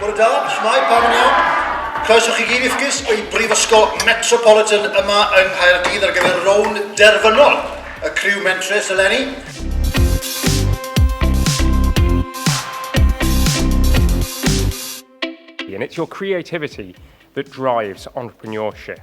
Bore da, shwmae, pam yn iawn? Croeso chi gyd i'ch gysg i Brifysgol Metropolitan yma yng Nghaerdydd ar gyfer rown derfynol y criw mentrus eleni. And it's your creativity that drives entrepreneurship.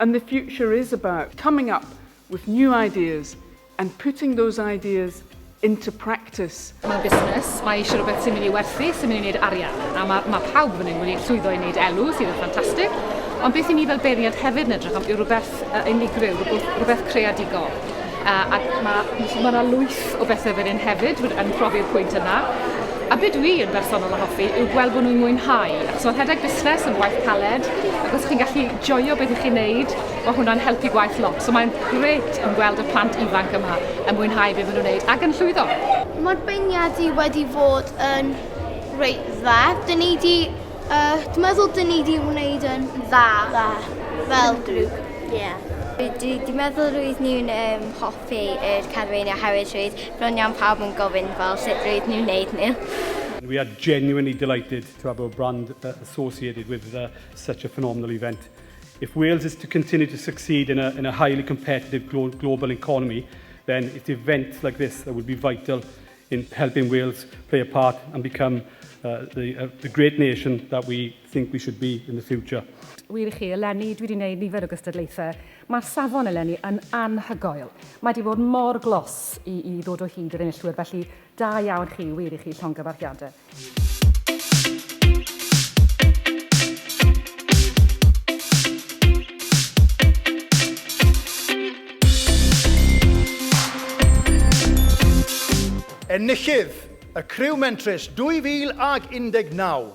And the future is about coming up with new ideas and putting those ideas into practice. Mae busnes, mae eisiau rhywbeth sy'n mynd i werthu, sy'n mynd i wneud arian. A mae, mae pawb yn mynd i llwyddo i wneud elw, sydd yn ffantastig. Ond beth i ni fel beirniad hefyd yn edrych am yw rhywbeth uh, unigryw, rhywbeth creadigol. Uh, ac mae ma yna lwyth o bethau fan hyn hefyd yn profi'r pwynt yna. A beth dwi yn bersonol yn hoffi yw gweld bod nhw'n mwynhau. Achos mae rhedeg busnes yn waith caled, ac os chi'n gallu joio beth ych chi'n neud, mae hwnna'n helpu gwaith lot. So mae'n gret yn gweld y plant ifanc yma yn mwynhau beth maen nhw'n neud ac yn llwyddo. Mae'r beirniadu wedi fod yn reit dda. Dyn ni wedi... Uh, dwi'n meddwl dyn ni wedi wneud yn dda. Dda. Fel grŵp. Ie. Dwi di meddwl roedd nhw'n um, hoffi yr carfeini oherwydd roedd bron iawn pawb yn gofyn fel sut roedd nhw'n neud nhw. And we are genuinely delighted to have our brand uh, associated with uh, such a phenomenal event. If Wales is to continue to succeed in a, in a highly competitive glo global economy, then it's events like this that will be vital in helping Wales play a part and become uh, the, uh, the great nation that we think we should be in the future. Wir i chi, eleni, dwi 'di neud nifer o gystadlaethau. Mae'r safon eleni yn anhygoel. Mae 'di bod mor glos i i ddod o hyd i'r enillwyr, felly da iawn chi, wir i chi, llongyfarchiadau. Enillydd y Criw Mentrus 2019.